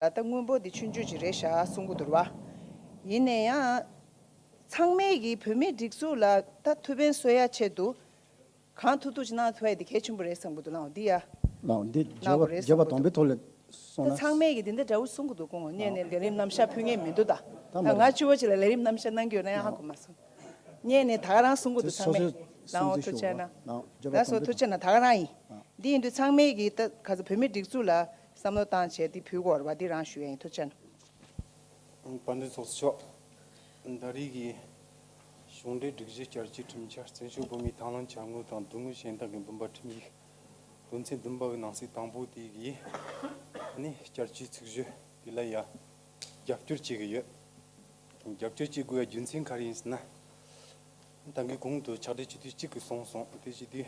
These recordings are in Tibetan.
ད་ལྟ་དངུལ་འབོར་འདི་ཆུ་མཆོད་ཅིག་རེད་ཤག་གསུང་གི་འདུར་བ། ཡིན་ནས་ཡང། ཚང་མས་ཀྱི་བོད་མིའི་སྒྲིག་འཛུགས་ལ་ད་ཐུ་བན་གསོད་ཡ་ཆེད་དུ། གང་ཐུག་ཐུག་ཅིག་གནང་ཐུ་བ་ཡི་འདི་གལ་ཆེན་པོ་རེད་བསམ་གི་འདུག་གནང་བ་འདི་ཡ། གནང་བ་འདི་བརྗེད་པ་བརྗེད་པ་དང་པོའི་ཐོག་ལས་སོང་ད་ན། ཚང་མས་ཀྱི་འདི་འདི་འདྲ་བོ་གསུང་གི་འདུག་གོང་ནས་ནས་ལས་རིམ་རྣམ་བཞག་ཕུལ་ངེས་མི་འདུག་ད། ད་ང་ཅུ་བོ་ཅིག་ལ་ལས་རིམ་རྣམ་བཞག་གནང་གི་ཡོད་ན་ཡང་ཧ་གོ་མ་སོང། ནས་ནས་ད་ག་རང་གསུང་གི་འདུག་ཚང་མས། གནང་བ་ཐུག་ཆེ་ན། ད་སོ་ཐུག་ཆེ་ན་ད་ག་རང་ཡིན། འདི་ཡིན་དུས་ཚང་མས་ཀྱི་ད་ག་ཚོད་བོད་མིའི་སྒྲིག་འཛུགས་ལ། བསམ་བློ་བཏང་བྱས་འདི་བུ་སྐོར་བ་འདི་རང་ཞུ་ཡ་ཡིན་ཐུགས་ཆེན། དཔའ་འདུལ་ཚོགས་གཙོ་མཆོག། ཟླ་རེའི་གི་གཞུང་འབྲེལ་སྒྲིག་གཞི་བསྐྱར་བཅོས་ཁྲིམས་འཆར་བཙན་བྱོལ་བོད་མིའི་དང་བླངས་བྱ་དངོས་དང་བསྡུར་དངོས་གཞན་དག་གི་འདུན་པ་ཁྲིམས་ཡིག་དོན་ཚན་བདུན་པ་གི་ནང་གསེས་དང་པོ་དེ་གི་ནི་བསྐྱར་བཅོས་ཚིག་བརྗོད་དེ་ལ་ཡང་རྒྱབ་སྐྱོར་བྱེད་གི་ཡོད། རྒྱབ་སྐྱོར་བྱེད་དགོས་པའི་རྒྱུ་མཚན་ག་རེ་ཡིན་ཟེར་ན། ད་གི་གུང་དུ་ཕྱག་སྦྲེལ་བྱེད་དུས་གཅིག་གི་སོང་སོང་དེ་བྱེད་དུས།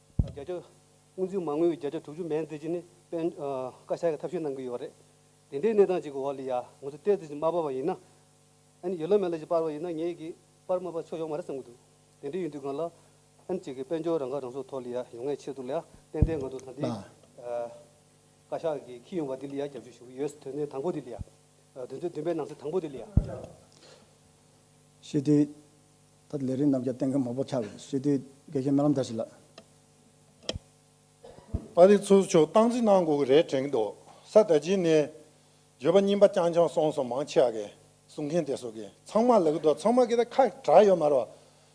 བརྒྱ་ཆ་དབུ་འཛིན་མ་དངུལ་བརྒྱ་ཆ་དྲུག་ཅུ་མན་འཛད་རྒྱུ་ནི་དཔལ་བཀའ་ཤག་གིས་ཐབས་ཤེས་གནང་གི་ཡོད་རེད། དེ་འདྲའི་གནས་སྟངས་ཅིག་གི་འོག་ལ་ཡང་ང་ཚོ་གཏེར་རྫས་ཅིག་མ་སྤར་བ་ཡིན་ན། ཡོད་ལ་མེད་ལ་ཅིག་སྤར་བ་ཡིན་ན་ངེད་ཀྱིས་སྤར་མ་སྤར་ཆོག་ཡོག་མ་རེད་བསམ་གྱི་འདུག་དེ་འདྲའི་ཡིན་དུས་གང་ལ། གཅིག་གིས་དཔལ་འབྱོར་རང་ཁ་རང་གསོ་ཐོག་ལ་ཡང་ཡོང་ངེས་ཆེད་དུ་ལ་ཡང་ཏན་ཏན་ང་ཚོ་ད་ལྟའི། བཀའ་ཤག་གིས་ཁྱི་ཡོང་བ་འདི་ལ་ཡང་རྒྱབ་སྐྱོར་ཞུ་གི་ཡོད། དོན་ཚན་དང་པོ་འདི་ལ་ཡང། དོན་ཚན་བདུན་པའི་ནང་གསེས་དང་པོ་འདི་ལ་ཡང། ཞི་བདེའི། ད་ལས་རིགས་རྣམས་ཀྱང་གཏན་འཁེལ་མང་པོ་ཆགས་པས་སྲིད་དོན་དགེ་རྒན་སྨོན་ལམ་དར་ཞིག་ལགས། པ་རིག་ཚུལ་མཆོག་སྟངས་འཛིན་གནང་དགོས་ཀྱི་རེད་དྲན་འདུག་ས་ད་ཅི་ནས། བརྗོད་པ་རྙིང་པ་རྐྱང་རྐྱང་སོང་སོང་མང་ཆེ་བ་གསུང་མཁན་དེ་སོགས་ཀྱིས་ཚང་མ་ལག་གི་འདུག་ཚང་མ་གི་ད་ཁ་གྲགས་ཡོད་མ་རོགས།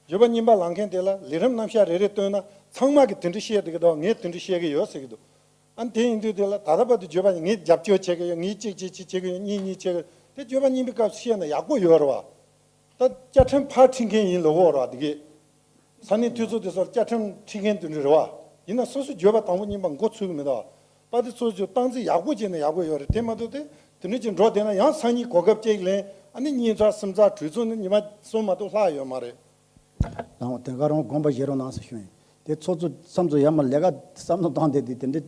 བརྗོད་པ་རྙིང་པ་ལང་མཁན་དེ་ལ་ལས་རིམ་རྣམ་བཞག་རེ་རེ་བཏོན་ན་ཚང་མ་གི་དེ་འདྲ་བཤད་འདུག་གི་འདུག་ངས་དེ་འདྲ་བཤད་གི་ཡོད་ཟེར་གི་འདུག་ཨང་དེ་ཡིན་དུས་དེ་ལ་ད་ལྟ་བར་དུ་བརྗོད་པ་ངས་རྒྱབ་སྐྱོར་བྱེད་ཀྱི་ཡོད་ངས་གཅིག་བྱེད་གཅིག་བྱེད་ཀྱི་ཡོད་གཉིས་གཉིས་བྱེད་ཀྱི་ཡོད་དེ་བརྗོད་པ་རྙིང་པའི་སྐབས་སུ་བཤད་ན་ཡག་པོ་ཡོད་རེད་བ། ད་བཅའ་ཁྲིམས་ཕར་འཁྲིད་མཁན་ཡིན་ལོ་བོ་ར་འདི་གས། ས་གནས་འཐུས་ཚོགས་དེ་ཚོར་བཅའ་ཁྲིམས་འཁྲིད་མཁན་དེ་འདྲ་རེད་བ། ཡིན་ན་སོ་སོས་བརྗོད་པ་དང་པོ་གཉིས་པ་མགོ་ཚོས་གི་མེད་ད། པ་དེ་ཚོས་ཀྱི་སྟངས་འཛིན་ཡག་པོ་བྱས་ན་ཡག་པོ་ཡོད་རེད་དེ་མ་ཏོག་དེ་དེ་འདྲ་ཅིག་འགྲོ་བསྡད་ན་ཡང་སང་ཉིན་གོ་སྐབས་བཅས་ཀྱི་ལན་ཨ་ནི་གཉིས་ཚར་གསུམ་ཚར་དྲུག་ཚོ་ནི་ཉི་མ་གསུམ་མ་ཏོག་ལྷག་ཡོད་མ་རེད། ལང་བ་དེ་ག་རང་དགོངས་པ་བཞེས་རོགས་གནང་ཟེར་ཞུ་ཡིན་དེ་ཚོ་ཚོ་བསམ་ཚོ་ཡ་མ་ལས་ཀ་བསམ་ནོ་སྟངས་དེ་དེ་དེ་འདྲ།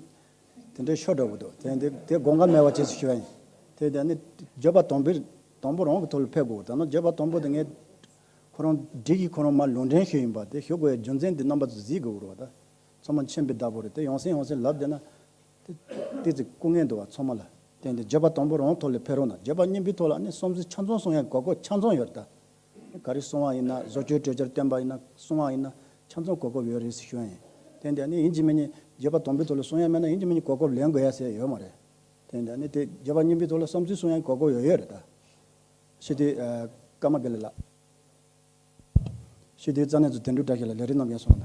དེ་འདྲའི་ཤོ་དྲག་པོ་འདུག་དེ་འདི་དེ་དགོངས་ཀ་མེད་བ་བྱེད་སུ་ཞུ་བ་ཡིན། དེ་དེ་ནི་བརྗོད་པ་དོམ་བུས་དོམ་བུ་རང་གི་ཐུགས་ལ་ཕེབས་དགོས་ད་ནང་བརྗོད་པ་དོམ་བུ་དེ་ངས་ཁོ་རང་སྒྲིག་གིས་ཁོ་རང་མར་ལུང་འདྲེན་ཞུས་ཡིན་པ་དེ་ཞུ་དགོས་ཡ་རྒྱུ་མཚན་དེ་རྣམ་པ་ཚོ་གཟིགས་དགོས་རོགས་ད་ཚོ་མ་མཆན་པའི་བདག་པོ་རེད་དེ་ཡོང་སྲིད་ཡོང་སྲིད་ལབ་བསྡད་ན་དེ་ཏི་ཙི་སྐུ་ངལ་འདུག་བ་ཚོ་མ་ལ་དེ་འདི་བརྗོད་པ་དོམ་བུ་རང་ཐུགས་ལ་ཕེབས་རོགས་གནང་བརྗོད་པ་སྙིང་པོའི་ཐོག་ལ་ནི་སོམས་སུ་ཆ་མཚོན་སོང་ཡ་གོ་གོ་ཆ་མཚོན་ཡོད་ད། ག་རེ་གསུང་བ་ཡིན་ན་བཟོ་བཅོས་གྲོས་འཆར་བཏོན་པ་ཡིན་ན་གསུང་བ་ཡིན་ན་ཆ་མཚུངས་གོ་སྐབས་ཡོད་རེད་ཟེར་ཞོར་ཡིན། དེ་འདྲ་ནི་ཡིན་གཅིག་མིན་གཉིས་བརྒྱད་པ་དང་པོའི་ཐོག་ལ་གསུང་ཡ་མེད་ན་ཡིན་གཅིག་མིན་གཉིས་གོ་སྐབས་ལེན་དགོས་ཡ་ཟེར་ཡ་ཡོད་མ་རེད། དེ་འདྲ་ནི་དེ་བརྒྱད་པ་གཉིས་པའི་ཐོག་ལ་བསམ་ཚུལ་གསུང་ཡ་གོ་སྐབས་ཡོད་ཡོད་རེད་ད། ཤེས་དུས་ཀརྨ་པེ་ལེ་ལགས། ཤེས་དུས་རྩ་གནས་ཚོ་དེ་འདྲུ་འདྲ་ཞིག་ལ་ལས་རིགས་རྣམས་ཡོད་སོང་ད།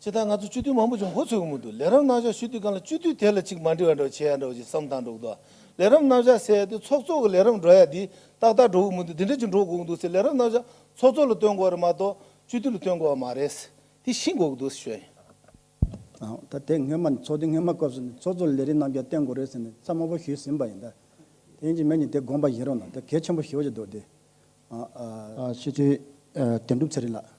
ཕྱི་ལྟར་ང་ཚོ་སྤྱི་འཐུས་མང་པོ་ཅིག་མགོ་ཚོས་གི་མི་འདུག་ལས་རབས་རྣམ་གཞག་ཞུ་དུས་གང་ལ་སྤྱི་འཐུས་དེ་ལ་ཅིག་མ་འདྲི་བ་འདྲ་བ་བྱེད་ཡ་འདྲ་བ་ཅིག་བསམ་སྟངས་འགྲོ་གི་འདུག་ལས་རབས་རྣམ་གཞག་ཟེར་དུས་ཚོགས་གཙོ་གི་ལས་རབས་འགྲོ་ཡ་འདི་ཏག་ཏག་འགྲོ་གི་མི་འདུག་འདི་འདྲ་ཅིག་འགྲོ་དགོས་གི་འདུག་ཟེར་ལས་རབས་རྣམ་གཞག་ཚོགས་གཙོ་ལ་བཏོན་དགོས་རེད་མ་གཏོགས་སྤྱི་འཐུས་ལ་བཏོན་དགོས་བ་མ་རེད། དེ་ཤི་དགོས་གི་འདུག་ཟེར་ཞོན། ད་དེ་སྔོན་མ་ཚོགས་འདུ་སྔོན་མ་སྐབས་སུ་ནི་ཚོགས་གཙོ་ལ་ལས་རིགས་རྣམ་གཞག་བསྟན་དགོས་རེད་ཟེར་ནས་རྩ་དམའ་པོ་ཞུས་ཟིན་པ་ཡིན་ད། དེ་ཡིན་ཅིག་མེད་ཅིག་དེ་དགོངས་པ་བཞེས་རོགས་གནང་ད་གལ་ཆེན་པོ་ཞུ་བ་ཅིག་འདུག་དེ། སྤྱི་འཐུས་དོན་གྲུབ་ཚེ་རིང་ལགས།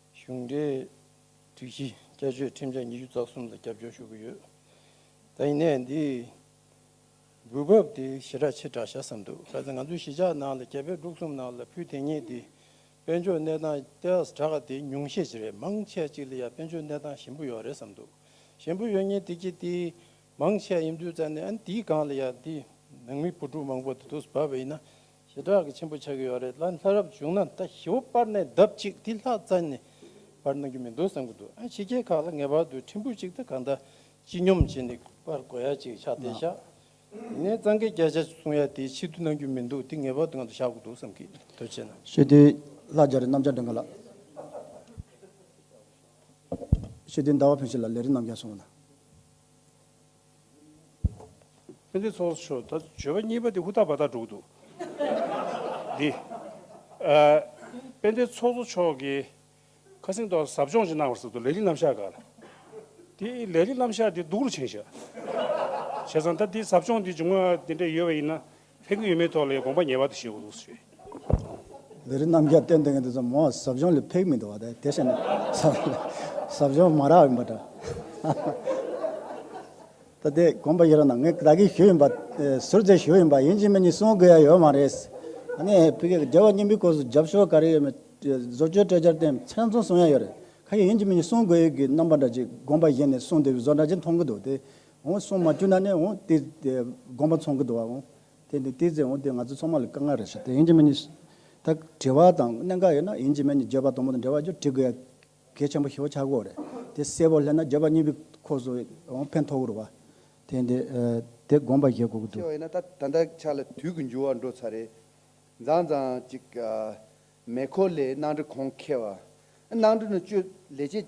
གཞུང་འབྲེལ་སྒྲིག་གཞི་བསྐྱར་བཅོས་ཁྲིམས་འཆར་ཉི་ཤུ་རྩ་གསུམ་ལ་རྒྱབ་སྐྱོར་ཞུ་གི་ཡོད། ད་ཡིན་ནའི་འདི་འགུལ་བབ་དེ་ཞེ་དྲག་ཕྱིར་བསྒྲགས་བྱ་བསམ་འདུག་གལ་སྲིད་ང་ཚོའི་གཞིས་ཆགས་ནང་ལ་གྱ་དཔེ་དྲུག་གསུམ་ནང་ལ་ཕུལ་དེ་ཉིད་དེ་དཔལ་འབྱོར་གནས་སྟངས་ཏེས་དྲག་ག་དེ་ཉུང་ཤས་ཅིག་རེད་མང་ཆས་ཅིག་ལ་ཡང་དཔལ་འབྱོར་གནས་སྟངས་ཞིམ་པོ་ཡོད་རེད་བསམ་འདུག་ཞིམ་པོ་ཡོད་ཉིན་དེ་གྱིས་དེ་མང་ཆས་ཡིན་དུས་ཙང་ནས་ཨ་ནི་དེའི་སྒང་ལ་ཡང་དེ་ནང་མི་བུ་ཕྲུག་མང་པོ་དེ་དུས་སུ་བབ་པ་ཡིན་ན་ཞེ་དྲག་གི་ཆེན་པོ་ཆགས་ཀྱི་ཡོད་རེད་ལ་ལྷ་རབ་བྱུང་ན་ད་ཞི་བོ་པར་ནས་ལྡབ་གཅིག་དེ་ལྷག་རྩ་ནས་པར་གནང་གི་མི་འདུག་བསམ་གྱི་འདུག་ཨ་ཕྱི་རྒྱལ་ཁག་ལ་ངེས་པར་དུ་ཕྲན་བུ་གཅིག་དང་གང་དག་སྤྱི་སྙོམས་བྱས་ནས་པར་གོ་ཡ་གཅིག་ཆགས་བསྡད་ཤག་དེ་ནས་གཙང་སྐད་བརྒྱ་ཆ་གསུང་ཡ་དེ་ཕྱི་དུ་གནང་རྒྱུ་མི་འདུག་དེ་ངེས་པར་དུ་ང་ཚོ་བཞག་དགོས་འདུག་བསམ་གྱི་འདུག་བྱས་ན། ཞི་བདེའི་ལྷ་རྒྱ་རི་གནམ་ལྕགས་སྒྲེང་ག་ལ། ཞི་བདེའི་ཟླ་བ་ཕོན་ཆེ་ལ་ལས་རིགས་རྣམ་རྒྱལ་སོང་བ་ལ། ཕན་བདེ་ཚོགས་མཆོག་ད་བརྗོད་པ་གཉིས་པ་དེ་ཧུར་ཐག་བར་ཐག་འགྲོ་གི་འདུག་འདི། ཕན་བདེ་ཚོགས་གཙོ་མཆོག་གིས་ཁ་སེང་ཐོག་ཟབ་སྦྱོང་ཅིག་གནང་བར་ཟེར་འདུག་ལས་རིགས་རྣམ་གཞག་འགའ་ལ། དེ་ལས་རིགས་རྣམ་གཞག་དེ་སྡུག་རུ་ཕྱིན་བཞག་བྱས་ཙང་ད་འདི་ཟབ་སྦྱོང་འདི་སྦྱོང་བ་དེ་འདྲ་ཡོད་པ་ཡིན་ན་ཕན་ཀི་ཡོད་མེད་ཐོག་ལས་དགོངས་པ་ངེས་པར་དུ་བཞེས་དགོས་ལུགས་སུ་རེད། འདི་རིགས་རྣམས་རྒྱབ་བརྟེན་དེ་ངས་འདི་ཚོ་མོ་ཟབ་སྦྱོང་ལས་ཕེག་མི་འདུག་བ་དེ་དེ་བཤད་ན་ཟབ་སྦྱོང་མ་རག་ཡིན་པ་འདྲ། ད་དེ་དགོངས་པ་ཡོད་ར་ན་ངས་བདག་གི་ཞུ་ཡིན་པ་ཟུར་ཟའི་ཞུ་ཡིན་པ་ཡིན་གཅིག་མིན་གཉིས་གསུང་དགོས་ཡ་ཡོད་མ་རེད། ད་ནས་ཕི་གེ་རྒྱལ་བ་སྙིང་པོའི་སྐོར་ཟབ་ཞོར་ག་རེ་ཡོད་མེད་བཟོ་བཅོས་སྤྲད་རྒྱར་བརྟེན་ཚང་ཚོང་གསུང་ཡ་ཡོད་རེད་ཁ་ཡིན་གཅིག་མིན་གཉིས་གསུང་དགོས་ཡོད་གི་རྣམ་པ་འདྲ་གཅིག་དགོངས་པ་བཞེས་ནས་གསུང་དེ་བཟོ་འདྲ་གཅིག་མཐོང་གི་འདུག་དེ་འོང་སོང་མ་བཅུ་ན་ནི་འོང་དེ་དགོངས་པ་ཚོང་གི་འདུག་བ་འོང་དེ་དེ་ཚེ་འོང་དེ་ང་ཚོ་ཚོང་མ་ལ་དཀའ་ངལ་རེ་ཞིག་དེ་ཡིན་གྱི་མིན་ནས་ད་དྲི་བ་དང་གནད་འགག་ཡོད་ན་ཡིན་གྱི་མིན་ནས་བརྗོད་པ་དང་པོ་དང་འབྲེལ་བ་བརྗོད་དྲི་དགོས་ཡ་གལ་ཆེན་པོ་ཞེ་བོ་ཆགས་དགོས་རེད་དེ་གསལ་བོ་སླེབས་ན་བརྗོད་པ་གཉིས་པའི་ཁོག་སུ་འོང་ཕན་ཐོགས་གི་རུ་བ། དེ་འདི་དེ་དགོངས་པ་བཞེས་དགོས་གི་འདུག། ཞེས་བ་ཡིན་ན་ད་ད་ལྟ་ཆ་ལ་དུས་ཀྱི་འགྱུར་བ་འགྲོ་ཚར་རེད། མཛངས་མཛངས་ཅིག་མེ་འཁོར་ལས་གནང་འདྲི་གོང་ཁེ་བ། གནང་འདྲི་ནི་བཅོས་ལས་བྱེད